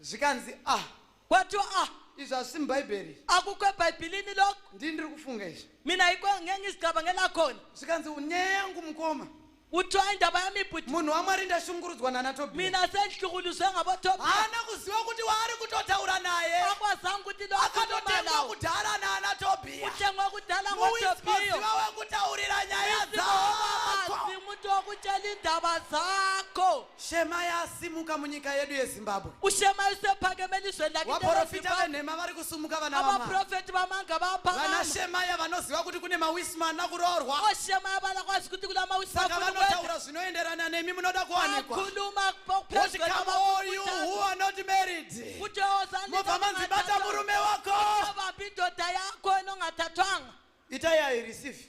zvikanzi a kwatiwa a izvi hazvisi mubhaibheri aku kwebhaibhilini loko ndini ndiri kufunga izvi mina hiko ngeke ngizicabanga lakhona zvikanzi nyaya yangu mukoma kuthiwa indaba yami bhuti munhu wamwari ndashungurudzwa nana tobiya mina sendihlukuluzwe ngabotobiya haana kuziva kuti waari kutotaura naye akwazanga ukuthi lo akhuluma akatotengwa nawo kudhara nana tobiya uthengwe kudala ngotobiyo muwismaziva wekutaurira nyaya dzako umuntu wokutshela iindaba zakho Shemaya asimuka munyika yedu yeZimbabwe. Kushemaya usepake melizwe ndakite Vaporofita venhema vari kusumuka vana vamwa. Abaprofeti vamanga vapa. Vana Shemaya vanoziva kuti kune mawisma ana kuroorwa. O Shemaya vana kwazi kuti kuna mawisma. Saka vanotaura zvinoenderana nemi munoda kuwanikwa. Akhuluma kupezwa. Kuti come all you who are not married. Kuti ozani. Mobva manzi bata murume wako. Vabindoda yako inongatatwanga. Itai I receive.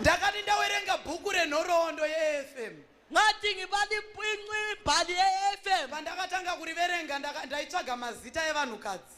ndakati ndawerenga bhuku renhoroondo yefm ngathi ngibalimpinci imbhali ye-fm pandakatanga kuriverenga ndaka- ndaitsvaga mazita evanhukadzi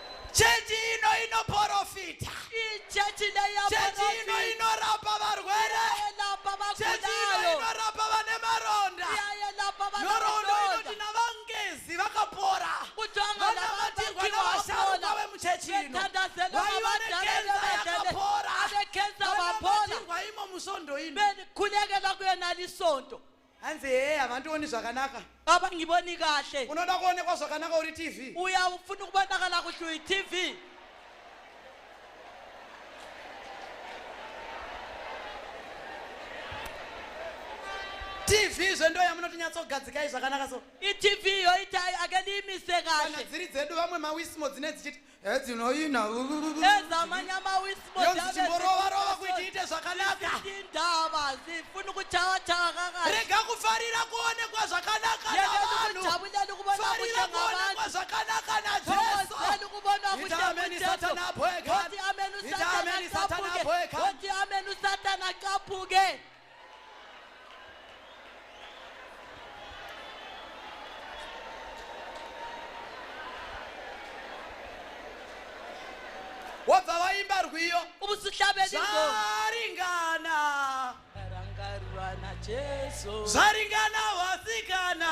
Chechi ino inoporofita. Ichechi leya Chechi ino porofita. inorapa varwere. Yelapa Chechi ino vakudayo. inorapa vane maronda. Yelapa vana Nhoroondo inoti vakudayo. navangezi vakapora. Kutanga Vanamatirwa navabatsirwa navasharuka vapona. vemuchechi ino. Vethandazelo Vaiva navadala nekenza nevadala. yakapora. Vanekenza vapona. Vanamatirwa imo musvondo ino. Beni khulekela kuyena lisonto. hanzi hee havandioni zvakanaka abangiboni kahle unoda kuonekwa zvakanaka uri tv uya ufuna ukubonakala kuhle uyi tv tv zve ndo yamunotinyatsogadzikai zvakanaka so itv yoita akeniimise kana kahle dziri dzedu vamwe mawismo dzine dzichiti edzinoina ezamanyamawisimozichimborova-rova kuti iite zvakanaka ndava zifuni kuchava chava kakati rega kufarira kuonekwa zvakanaka navanhufarira kuonekwa zvakanaka najesuitaamenisatanaboekaitaamenisatanaboeka wabva waimba rwiyo zvaringana zvaringana wasikana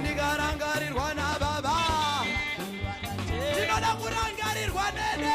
Ndikarangarirwa nababa Ndinoda kurangarirwa nene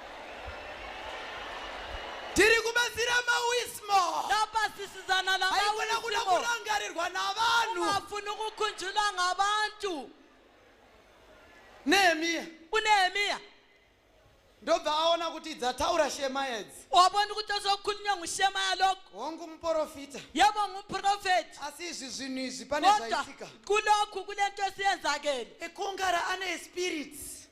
tiri kubatsira mawismo lapasisizana haikona kuda namawisimo kurangarirwa navanhu ungafuni ukukhunjulwa ngabantu nehemiya unehemiya ndobva aona kuti dzataura shema edzi wabona ukuthi ozokhulunywa ngushemaya lokhu hongu muprofita yebo ngumprofethi asi izvi zvinhu izvi pane kodwa zvaitika kulokhu kule nto esiyenzakele ekongara ane spirits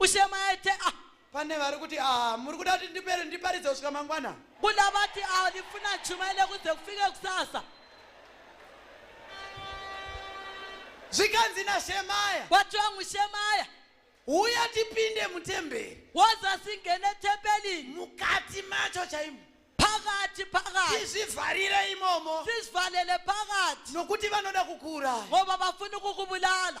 Ushemaete ah. Pane vari kuti ah muri kuda kuti ndipere ndiparidze kusvika mangwana. Kuna vati ah ndifuna chuma ile kuze kufike kusasa. Zvikanzi na Shemaya. Watu wangu Shemaya. Uya tipinde mutemberi. Woza singene temberi. Mukati macho chaimo. Pakati pakati. Tizvivharire imomo. Tizvivharire pakati. Nokuti vanoda kukura. Ngoba vafuna kukubulala.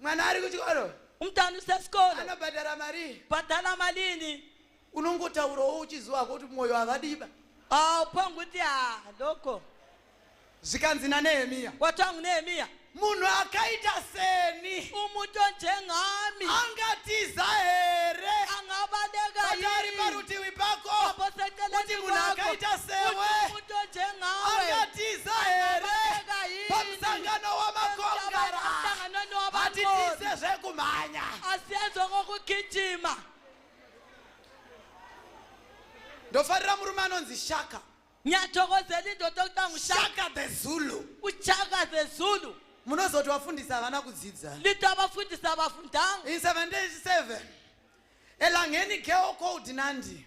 mwana ari kuchikoro umntana usesikolo anobhadhara marii bhadhara malini unongotaurawo uchiziva kuti mwoyo havadiba aupanga kuti ha doko zvikanzi nanehemiya watangu nehemiya munhu akaita seni umuto njengami angatiza here angabalekaari parutivi pako kuti munhu akaita sewe angatiza here sangano wamakongara hatitize zvekumhanya asienzo kokugijima ndofarira murume anonzi shaka nyathokozeli ndoda kuta ngushaka shaka the zulu uchaka the zulu munozoti vafundisa havana kudzidza lito abafundisa abafundanga in 77 elangeni geo code nandi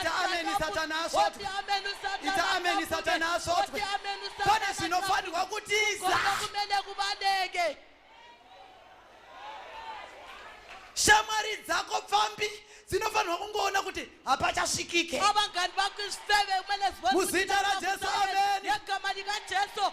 ita ameni satani asvotwe ita ameni satani asvotwe pane zvinofanirwa kutiza shamwari dzako pfambi dzinofanirwa kungoona kuti hapachasvikike abangani vako isifeve kumele zimuzita rajesu ameni yegamani kajesu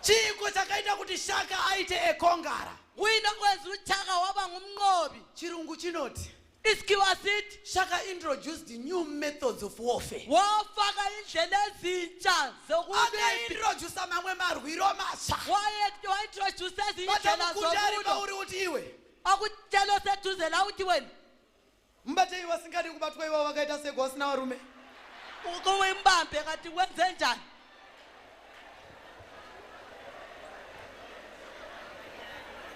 chiiko chakaita kuti shaka aite ekongara wina kwezi uchaka wava ngumnqobi chirungu chinoti iskiwa asithi shaka introduced new methods of warfare wafaka indlela ezintsha zokuintrodusa mamwe marwiro matsha waintrodusa ezinye indlela zokulo uri uthi iwe akutshelo seduze la uthi wena Mbatei vasingadi kubatwa ivo vakaita seko vasina varume. Ukowe mbambe kati wenze njani?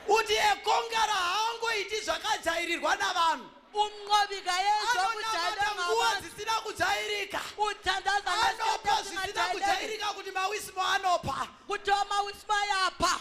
Uti ekongara haangoiti zvakajairirwa navanhu. Unqobika yezvo kujaira nguva dzisina kujairika. Uthandaza anopa zvisina kujairika kuti mawismo anopa. Kuti mawismo ayapa.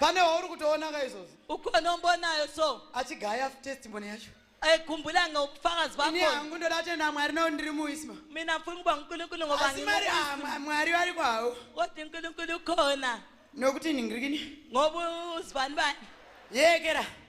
pane wauri kutoonaka izvozvo ukonombonayo so achigaya testimony yacho ekhumbula ngobufakazi bakhoangu ndoda atenda mwari nawo ndiri muisma mina mfuna ukuba unkulunkulu ngobaasi mari ah, mwari vari kwawo kodwa unkulunkulu ukhona nokuthini ngirikini ngoba uzibani bani yekera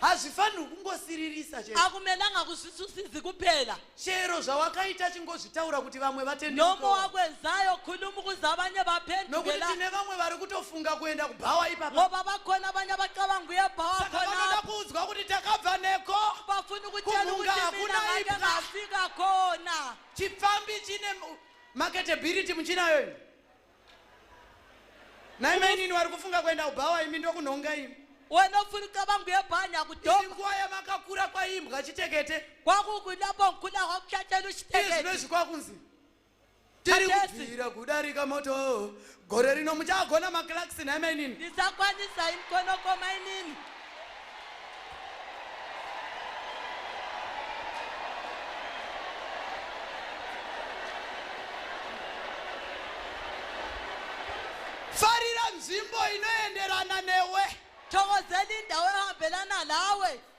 hazvifanirwi kungosiririsa chete akumelanga kuzvisusizi kuphela chero zvawakaita chingozvitaura kuti vamwe noma vatendeuke wakwenzayo khulumu kuze abanye nokuti baphendukela tine vamwe vari kutofunga kuenda kubhawa ipapa ngoba bakhona abanye abacabanga uyebhawa saka vanoda khona kuudzwa kuti takabva neko bafuna ukutshela Kumunga ukuthi mina hakuna ngake ipha. ngafika khona chipfambi chine Marketability muchinayo imi. Nai mainini wari kufunga kuenda kubhawa imi ndokunhonga imi. Wanofunika vangu yebhanya kudhoma. Iri nguva yamakakura kwaimbwa chitekete. Kwakukuda bonkula kwakuchatenu chitekete. Izvinozvi kwakunzi. Tiri kubvira kudarika moto Gore rino muchagona maclarks nhai mainini? Ndisakwanisa inkonoko mainini. Farira nzvimbo inoenderana newe. Thokozela indawo ehambelana nawe.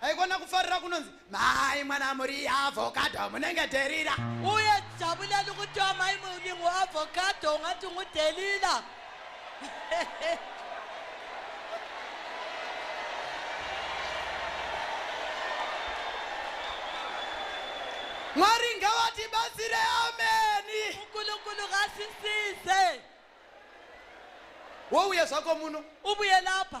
haikona kufarira kunonzi mai mwana muri avocado munenge dherira uye jabulani kuti amai mulingu avocado ungati ngudhelila mwari ngawatibatsire ameni unkulunkulu ngasisize wouya zvako muno ubuye lapha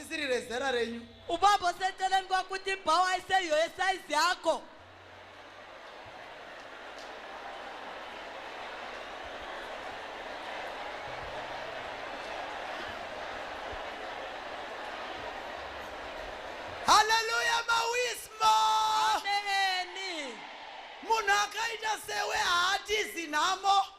risiri rezera renyu ubaba seceleni kwakuti bhawa aiseyo yesaizi yako haleluya mawismo ameni munhu akaita sewe haatizi nhamo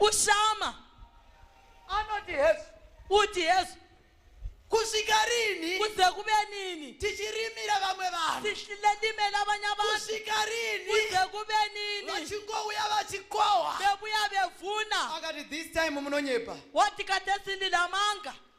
ushama anoti hesu uti hesu kusvika rini kuze kuve nini tichirimira vamwe vanhu tichilelimela abanye abantu kusvika rini kuze kuve nini vachingouya vachikohwa vevuya vevuna akati this time munonyepa wati katesindile amanga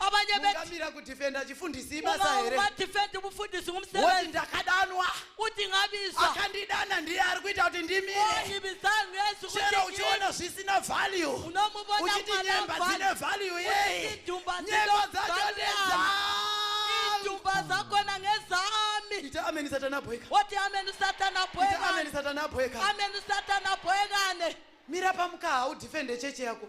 abanye beti ungamira kudefenda chifundisi ibasa here umawadifendi umfundisi woti ngumsebenzi ndakadanwa uthi ngabizwa akandidana ndiye ari kuita kuti ndimire oyibizanga yesu chero ukuthi uchiona zvisina value unomubona uchiti nyemba dzine kwalabhani value yei idumba nyemba dzacho ndedzangu idumba zakhona ngezami ita ameni satana bweka wothi ameni usatana ita ameni bhwekane satana bweka ameni usatana bhwekane mira pamukaha udefende cheche yako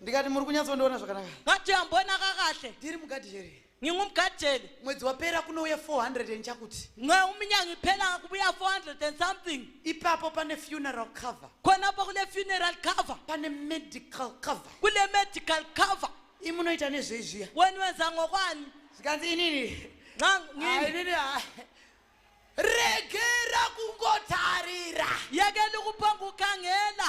ndikati muri kunyatsondiona zvakanaka ngathi uyambonaka kahle ndiri mugadi here ngingumgadeli mwedzi wapera kunouya 400 and chakuti nge uminyanga iphela kubuya 400 and something ipapo pane funeral cover khonapho kule funeral cover pane medical cover kule medical cover imunoita nezveizviya wena wenza ngokwani zvikanzi inini nxa ngini inini hayi regera kungotarira yekela ukuphonga ukhangela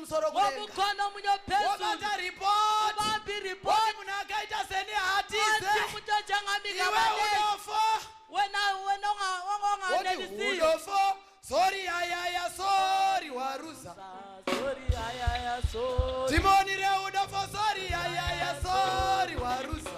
kumusoro womukono munyopesuobata ripotibambi ripoti munhu akaita seni hatize mutojangamika unofa wenongaonganelisiyoudofo sori ayaya sori waruza timoni reudofo sori ayaya sori waruza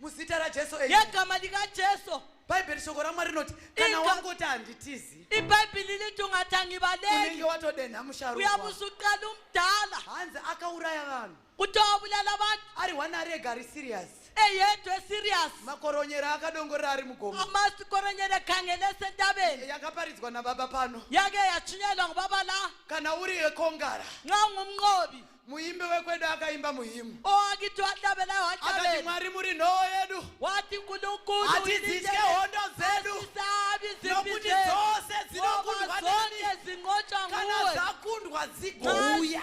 muzita rajesu yegama likajesu bhaibheri shoko ramwari rinoti kana wangoti handitizi ibhaibheri liti ungatangi valenge watodenha musharuyabusuqala umdala hanzi akauraya vanhu kuti wabulala vanhu ari one ari ega ari serious eyedwe serious makoronyera akadongorera ari mugomo amasikoronyera khangelese entabeni yakaparidzwa nababa pano yake yatshunyelwa ngubaba la kana uri ekongara nxa ungumnqobi muimbi wekwedu akaimba muhimu akati mwari muri nhoo yedu hatidzitye hondo dzedu nokuti dzose dzinokundwakana dzakundwa dzigouya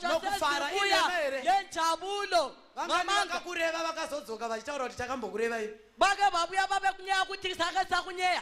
nokufara ineere vamweni vakakureva vakazodzoka vachitaura kuti takambokurevai vake vabuya vave kunyeya kuti saka sakunyeya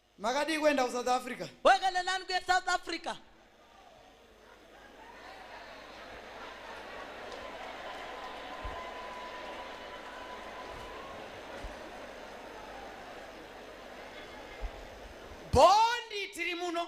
makadii kuenda kusouth africa wakaenda nani kuya south africa bondi tiri muno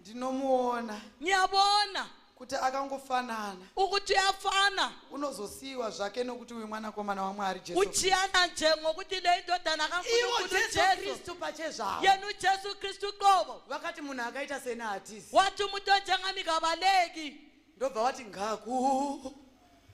ndinomuona niyabona kuti akangofanana ukuthi uyafana unozosiyiwa zvake nokuti uyu mwanakomana wamwari jesu uchiyana nje ngokuti le indodana ivo kankulunkulu jesu jesu kristu pachezvavo yena ujesu kristu qobo vakati munhu akaita seni hatisi wathi umuntu onjengami kabaleki ndobva wati ngaku